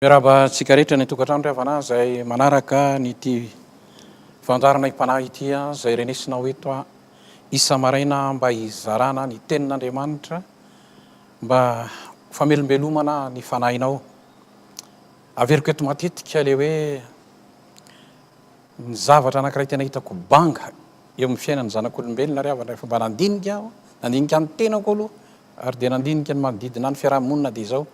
Miarahaba antsika rehetra any an-tokantrano ry havana izay manaraka an'ity fandaharana Im-panahy ity izay renesinao eto isa-maraina mba hizarana ny tenin'Andriamanitra mba ho famelombelomana ny fanahinao. Averiko eto matetika ilay hoe ny zavatra anankiray tena hitako banga eo amin'ny fiainan'ny zanak'olombelona ry havana rehefa mba nandinika aho, nandinika ny tenako aloha ary dia nandinika ny manodidina ny fiarahamonina dia izao.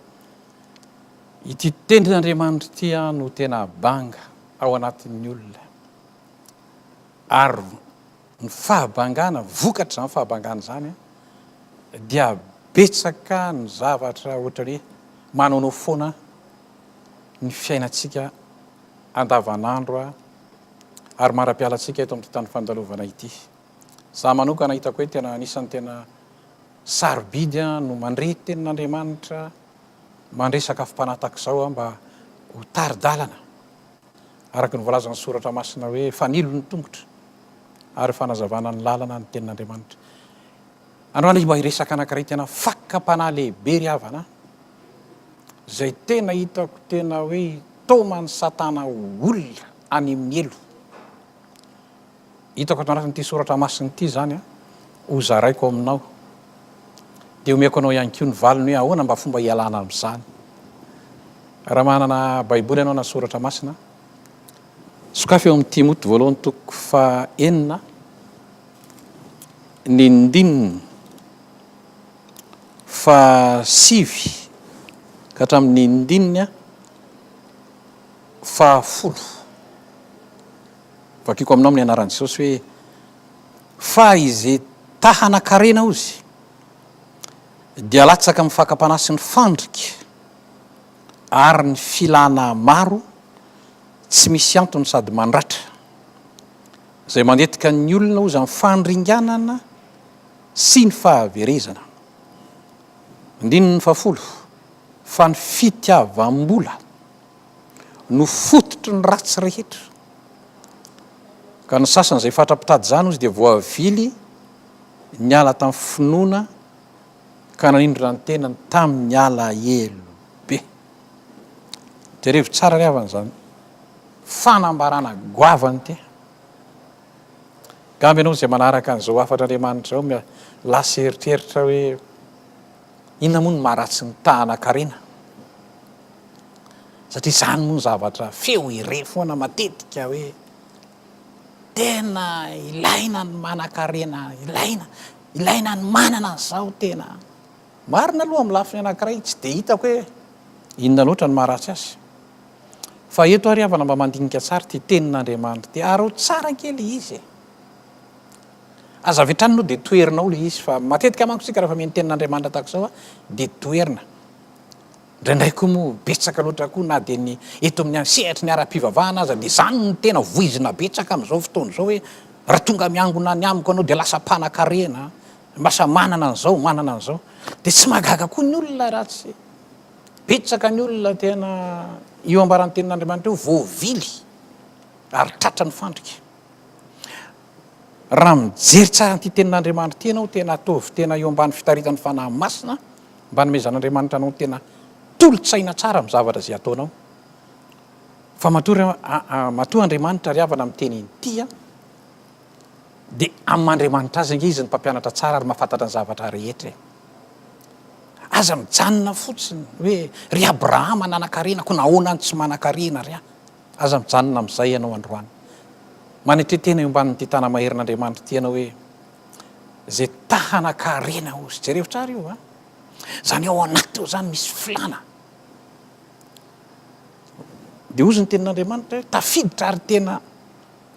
Ity tenin'Andriamanitra ity aho no tena banga ao anatin'ny olona. Ary ny fahabangana, vokatr'izany fahabangana izany, dia betsaka ny zavatra ohatra hoe manaonao foana ny fiainantsika andavanandro ary mara-pialantsika eto amin'ity tany fandalovana ity. Za manokana hitako hoe tena anisan'ny tena sarobidy an no mandre tenin'Andriamanitra mandre sakafom-panahy tahaka izao an mba ho tari-dalana araka ny voalazan'ny soratra masina hoe fanilo ny tongotra ary fanazavana ny lalana ny tenin'Andriamanitra. Androany izy mba hiresaka anankiray tena fakam-panahy lehibe ry havana izay tena hitako tena hoe taoman'ny satana olona any amin'ny helo hitako ato anatin'ity soratra masina ity izany ho zaraiko aminao. Dia omeko anao ihany koa ny valiny hoe ahoana mba fomba hialana amin'izany. Raha manana Baiboly ianao na soratra masina, sokafy eo amin'ny Timoty voalohany toko fahenina ny ndininy fa sivy ka hatramin'ny ndininy fahafolo. Vakiko aminao amin'ny anaran'i Jesosy hoe, Fa izay ta hanan-karena ozy, dia latsaka amin'ny fakam-panahy sy ny fandrika ary ny filana maro tsy misy antony sady mandratra, izay mandetika ny olona ozy amin'ny fandringanana sy ny fahaverezana. Andininy fahafolo, Fa ny fitiavam-bola. no fototry ny ratsy rehetra. Ka ny sasany izay fatra mpitady izany hozy dia voavily niala tamin'ny finoana ka nanindrona ny tenany tamin'ny alahelo be. Jerevo tsara ry havana izany fanambarana goavana ity. Gambe ianao izay manaraka an'izao hafatr'Andriamanitra izao, lasa eritreritra hoe, Inona moa no maharatsy ny tahanan-karena? Satria izany moa no zavatra feo irery foana matetika hoe tena ilaina ny manan-karena, ilaina, ilaina ny manana an'izao tena. Marina aloha amin'ny lafiny anankiray tsy dia hitako hoe inona loatra no maharatsy azy. Fa eto ary havana mba mandinika tsara ity tenin'Andriamanitra ity, araho tsara kely izy e. Aza avy hatrany aloha dia toherinao ilay izy fa matetika manko isika rehefa mihaino tenin'Andriamanitra tahaka izao dia toherina. Indraindray koa moa betsaka loatra koa na dia ny eto amin'ny sehatry ny ara-pivavahana aza dia izany no tena voizina betsaka amin'izao fotoana izao hoe raha tonga miangona any amiko ianao dia lasa mpanakarena, lasa manana an'izao, manana an'izao. Dia tsy mahagaga koa ny olona raha tsy betsaka ny olona tena io ambaran'ny tenin'Andriamanitra io voavily ary tratran'ny fandrika. Raha mijery tsara an'ity tenin'Andriamanitra ity ianao, tena ataovy tena eo ambany fitaritan'ny Fanahy Masina, mba hanomezan'Andriamanitra anao ny tena tolo-tsaina tsara amin'ny zavatra izay ataonao. Fa matoa, matoa Andriamanitra ry havana miteny inty an, dia amin'ny maha Andriamanitra Azy ange Izy no mpampianatra tsara ary mahafantatra ny zavatra rehetra e. Aza mijanona fotsiny hoe, ry Abrahama nanankarena, koa nahoana no tsy manankarena ry ahy? Aza mijanona amin'izay ianao androany. Manetria tena eo ambanin'ity tana-maherin'Andriamanitra ity ianao hoe, Izay ta hanan-karena hozy. Jereo tsara io an! Izany ao anaty ao izany misy filàna. Dia hozy ny tenin'Andriamanitra hoe, Tafiditra ary tena,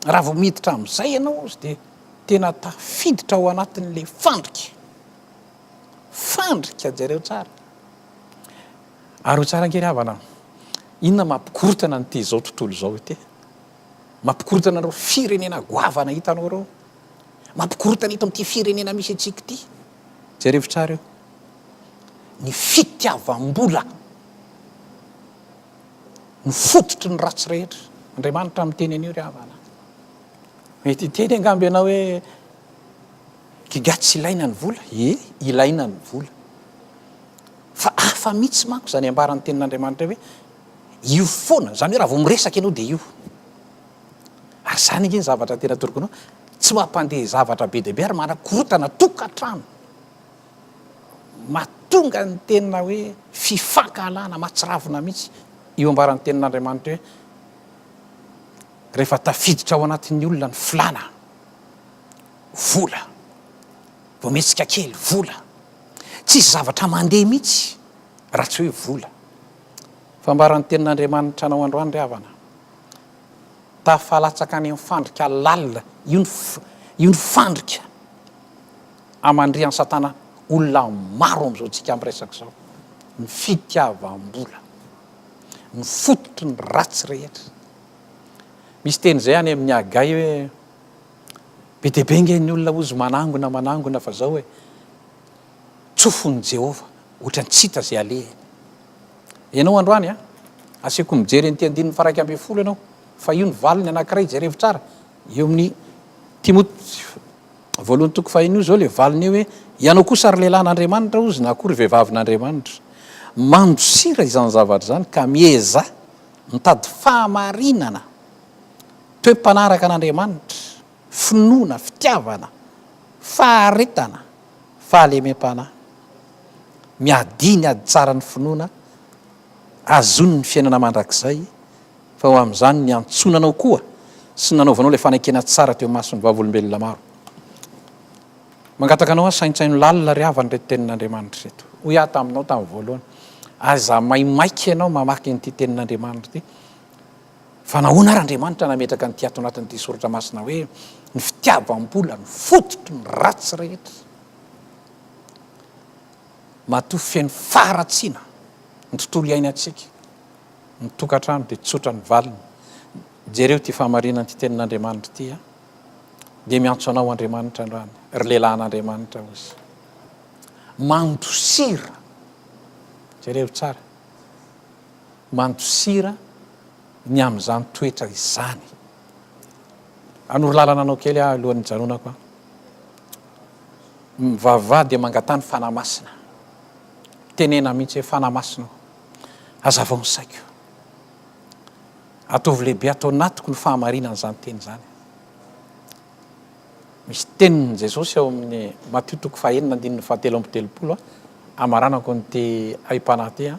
raha vao miditra amin'izay ianao hozy dia tena tafiditra ao anatin'ilay fandrika. Fandrika, jereo tsara. Ary ho tsara angery havana an! Inona mampikorontana an'ity izao tontolo izao ity? Mampikorontana an'ireo firenena goavana hitanao ireo. Mampikorontana eto amin'ity firenena misy antsika ity. Jereo tsara eo. Ny fitiavam-bola no fototry ny ratsy rehetra. Andriamanitra miteny an'io ry havana. Mety hiteny angamba ianao hoe Giga tsy ilaina ny vola. Ie, ilaina ny vola. Fa hafa mihitsy manko izany ambaran'ny Tenin'Andriamanitra hoe io foana, izany hoe raha vao miresaka ianao dia io. Ary izany ange ny zavatra tena torokinao, tsy mampandeha zavatra be dia be ary manakorontana tokantrano. Mahatonga ny tena hoe fifankahalana mahatsiravina mihitsy io ambaran'ny Tenin'Andriamanitra hoe rehefa tafiditra ao anatin'ny olona ny filàna, vola. Bometsika kely, vola. Tsisy zavatra mandeha mihitsy raha tsy hoe vola. Fa ambara ny tenin'Andriamanitra anao androany ry havana. Tafalatsaka any amin'ny fandrika lalina, io ny io ny fandrika amandrihan'i Satana olona maro amin'izao antsika miresaka izao, ny fitiavam-bola. Ny fototry ny ratsy rehetra. Misy teny izay any amin'ny Hagay hoe. Be dia be ange ny olona hozy manangona manangona fa zao e, tsofin'i Jehovah ohatran'ny tsy hita izay alehany. Ianao androany a, asehoko mijery an'ity andininy faraika ambin'ny folo ianao, fa io ny valiny anankiray, jerevo tsara, eo amin'ny Timoty voalohany toko fahiny io zao le valiny io hoe, ianao kosa ry lehilahin'Andriamanitra hozy na koa ry vehivavin'Andriamanitra, mandosira izany zavatra izany ka miezaha mitady fahamarinana. Toe mpanaraka an'Andriamanitra, finoana, fitiavana, faharetana, fahalemem-panahy. Miadia ny ady tsara ny finoana azony ny fiainana mandrakizay fa ho amin'izany niantsonanao koa sy nanaovanao ilay fanekena tsara teo imason'ny vavolombelona maro. Mangataka anao aho saintsaino lalina ry havana ireto tenin'Andriamanitra ireto. Hoy aho taminao tamin'ny voalohany, aza maimaika ianao mamaky an'ity tenin'Andriamanitra ity. Fa nahoana ary Andriamanitra nametraka an'ity ato anatin'ity soratra masina hoe ny fitiavam-bola no fototry ny ratsy rehetra? Matoa feno faharatsiana ny tontolo iainantsika, ny tokantrano dia tsotra ny valiny. Jereo ity fahamarinan'ity tenin'Andriamanitra ity a! Dia miantso anao Andriamanitra androany, ry lehilahin'Andriamanitra hozy. Mandosira, jereo tsara. mandosira ny amin'izany toetra izany. Hanoro lalana anao kely aho alohan'ny hijanonako an. Mivavaha dia mangataha ny Fanahy Masina. Tenena mihitsy hoe Fanahy Masina o, hazavao ny saiko. Ataovy lehibe ato anatiko ny fahamarinan'izany teny izany. Misy tenin'i Jesosy ao amin'ny Matio toko fahenina andininy fahatelo amby telopolo an, hamaranako an'ity aim-panahy ity an.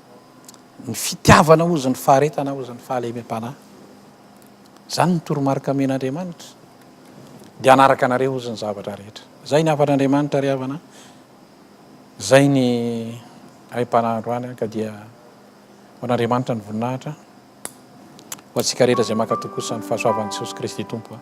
ny fitiavana hozy ny faharetana hozy ny fahalemem-panahy zany ny toromarika men'andriamanitra de anaraka anareo hozy ny zavatra rehetra zay ny hafan'andriamanitra ry havana zay ny aim-panahandro any ka dia ho an'andriamanitra ny voninahitra ho antsika rehetra zay makatokosa ny fahasoavan'i jesosy kristy tompo a